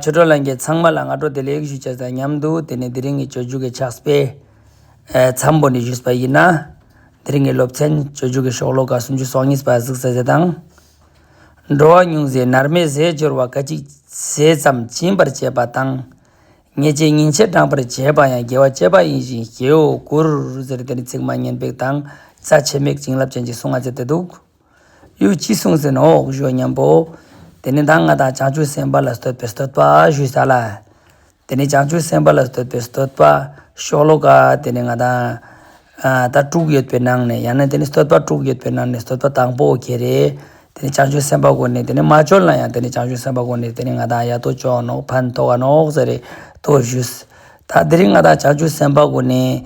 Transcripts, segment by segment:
ཆོས་གྲོགས་ལྷན་རྒྱས་ཚང་མ་ལ་སྔ་དྲོ་དེ་ལས་ཡིག་ཞུ་བྱས་ཟེར་མཉམ་འདུག་དེ་ནས་དེ་རིང་གི་བཅོས་བསྒྱུར་གྱི་ཕྱག་དཔེ། མཚམས་པོ་ནས་བཞུགས་པ་ཡིན་ན། དེ་རིང་གི་སློབ་ཚན་བཅོས་བསྒྱུར་གྱི་ཤོག་ལོ་ག་སུམ་ཅུ་སོ་གཉིས་པ་གཟིགས་ཟེར་ཟེར་དང། འགྲོ་བ་ཉུང་ཟད་ནར་མའི་ཟས་སྦྱོར་བ་ཀ་གཅིག་ཟས་ཙམ་སྦྱིན་པར་བྱེད་པ་དང། ཉེས་བྱས་ཉིན་བྱེད་བགྲང་བར་བྱེད་པ་ཡང་དགེ་བ་སྤྱད་པ་ཡིན་ཞིང་ཞེའོ་གུ་རུ་ཟེར་དེ་ནི་ཚིག་མ་ཉན་པའི་དང་རྩ་ཆེ་མེད་བྱིན་རླབས་ཅན་གྱི་གསུང་ང་ཚེ་དེ་འདུག། ཡུལ་གྱིས་བསྲུང་ཟིན་ནོ་འོག་གཞུག་སྙམ་པོ། དེ་ནས་ཟླ་ལྔ་དང་བྱང་ཆུབ་སེམས་དཔའ་ལ་བསྟོད་པའི་བསྟོད་པ་ཞུས་བྱ་ལ། དེ་ནས་བྱང་ཆུབ་སེམས་དཔའ་ལ་བསྟོད་པའི་བསྟོད་པ་ཤོ་ལོ་ཀ། དེ་ནས་ང་དང། ད་དྲུག་ཡོད་པའི་ནང་ནས་ཡང་ན་དེ་ནས་བསྟོད་པ་དྲུག་ཡོད་པའི་ནང་ནས་བསྟོད་པ་དང་པོ་ཁྱེད་རེད། དེ་ནས་བྱང་ཆུབ་སེམས་དཔའ་གོ་ནས་དེ་ནས་མ་འབྱོར་ན་ཡང་དེ་ནས་བྱང་ཆུབ་སེམས་དཔའ་གོ་ནས་དེ་ནས་ང་དང་ཡ་ཏོ་ཅོག་ནོག་ཕན་ཐོགས་ཀ་ནོག་ཟེར་རེ་ལྟོས་ཞུས། ད་དེ་རིང་ང་དང་བྱང་ཆུབ་སེམས་དཔའ་གོ་ནས།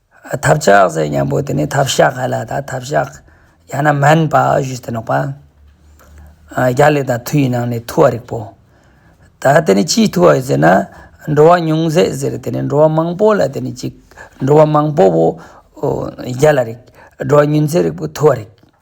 ཐབས་ཆག་ཟེར་སྙམ་པོ་དེ་ནི་ཐབས་ཤག་ཧ་ལ་ད་ཐབས་ཤག་ཡང་ན་མན་པ་ཞུས་ཏེ་ནོག་པ། རྒྱ་ལས་དང་ཐུ་ཡི་ནང་ནས་ཐུ་བ་རིག་པོ། ད་དེ་ནི་ཅིའི་ཐུ་བ་ཡོད་ཟེར་ན། འགྲོ་བ་ཉུང་ཟད་ཟེར་དེ་ནི་འགྲོ་བ་མང་པོ་ལ་དེ་ནི་གཅིག་འགྲོ་བ་མང་པོ་བོ། རྒྱ་ལ་རིག་འགྲོ་བ་ཉུན་ཟད་རིག་པོ་ཐུ་བ་རིག།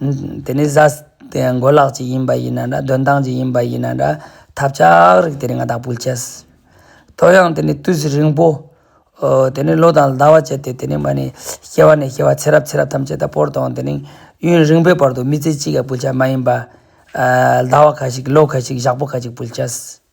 དེ་ནི་བཟའ་འགོ་ལག་ཅིག་ཡིན་པ་ཡིན་ན་འདྲ་འདོན་སྟངས་ཅིག་ཡིན་པ་ཡིན་ན་འདྲ་ཐབས་ཆག་རིགས་དེ་རིགས་ང་བདག་ཕུལ་བྱས། ཐོ་ཡང་དེ་ནི་དུས་རིང་པོ། དེ་ནི་ལོ་དང་ཟླ་བ་བྱས་ཏེ་དེ་ནི་མ་ནི་ཤེས་བ་ནས་ཤེས་བ་ཚེ་རབས་ཚེ་རབས་ཐམས་ཅད་དང་པོར་དང་དེ་ནི་ཡུན་རིང་པོའི་བར་དུ་མི་ཚེ་གཅིག་ག་ཕུལ་བྱ་མ་ཡིན་པ། ཟླ་བ་ཁ་ཅིག་ལོ་ཁ་ཅིག་ཞག་པོ་ཁ་ཅིག་ཕུལ་བྱས།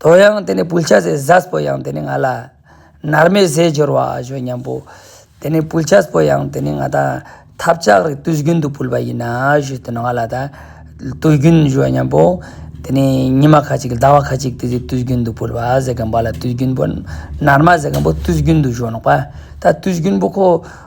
དོ་ཡང་དེ་ནས་བུལ་ཆ་ཟས་བཟའ་བོ་ཡང་དེ་ནས་ང་ལ། ནར་མའི་ཟས་སྦྱོར་བ་ཞོ་མཉམ་པོ། དེ་ནས་བུལ་ཆ་བོ་ཡང་དེ་ནས་ང་དང། ཐབ་ལྕག་རིགས་དུས་རྒྱུན་དུ་བུལ་བ་ཡིན། ཞོ་དེ་ནས་ང་ལ་ད། དུས་རྒྱུན་ཞོ་མཉམ་པོ། དེ་ནས་ཉི་མ་ཁ་ཅིག་ཟླ་བ་ཁ་ཅིག་དེ་ཚོས་དུས་རྒྱུན་དུ་བུལ་བ་ཟས་སྐམ་པ་ལ་དུས་རྒྱུན་པོ། ནར་མ་ཟས་སྐམ་པོ་དུས་རྒྱུན་དུ་ཞོ་ནག་པ། ད་དུས་རྒྱུན་པོ་ཁོ།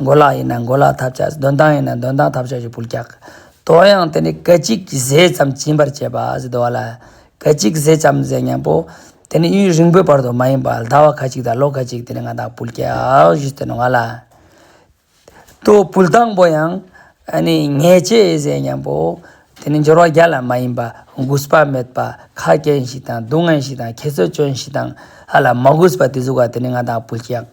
མགོ་ལག་ཡིན་ན་མགོ་ལག་ཐབས་ཆག་གདོན་དང་ཡིན་ན་གདོན་དང་ཐབས་ཆག་གི་བུལ་ཀྱག། དོ་ཡང་དེ་ནི་སྐད་ཅིག་གིས་ཟས་ཙམ་བྱིན་པར་བྱེད་པ་ཟེར་དོ། ལ་སྐད་ཅིག་གིས་ཟས་ཙམ་ཟས་སྙམ་པོ། དེ་ནི་ཡུན་རིང་པོའི་བར་དུ་མ་ཡིན་པ་ཟླ་བ་ཁ་ཅིག་དང་ལོ་ཁ་ཅིག་དེ་ནི་ང་དང་བུལ་ཀྱག་བཞི་སྟོན་ནོ་ང་ལ། དོ་བུལ་དང་པོ་ཡང་ནི་ངེས་བྱས་ཟས་སྙམ་པོ། དེ་ནི་སྦྱོར་བ་བརྒྱ་ལ་མ་ཡིན་པ་རྒུས་པ་མེད་པ་ཁ་སྐྱེངས་ཤིག་དང་སྡུག་བསྔལ་ཤིག་དང་ཁྱེད་ཚོས་སྐྱོན་ཤིག་དང། ལ་མ་རྒུས་པ་དེ་གཟུགས་ཀ་དེ་ནི་ང་དང་བུལ་ཀྱག།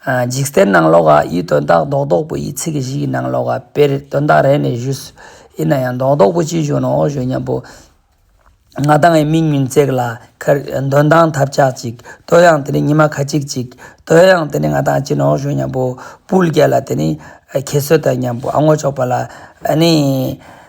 འཇིག་རྟེན་སྣང་ལོ་ཀ་ཡི་དོན་དག་རྡོག་རྡོག་པོ་ཡི་ཚིག་བཞི་ཡི་སྣང་ལོ་ཀ་དཔེར་དོན་དག་རེ་ནས་བཞུད། ཡིན་ན་ཡང་རྡོག་རྡོག་པོ་ཅི་བཞུད་ནོ་ཞུ་སྙམ་པོ། ང་དང་ངའི་མིག་མུན་བརྩེགས་ལ་ཁར། འདོན་དང་ཐབས་ཆག་ཅིག་དོལ་ཡང་དེ་ནི་ཉི་མ་ཁ་ཅིག་ཅིག། དོལ་ཡང་དེ་ནི་ང་དང་གཅིག་ནོ་ཞུ་སྙམ་པོ། སྤུ་རྒྱལ་ལ་དེ་ནི་ཁྱེད་བཟོད་དམ་སྙམ་པོ་ཨ་སྔོ་ཕྱོགས་པ་ལ། ཨ་ནི།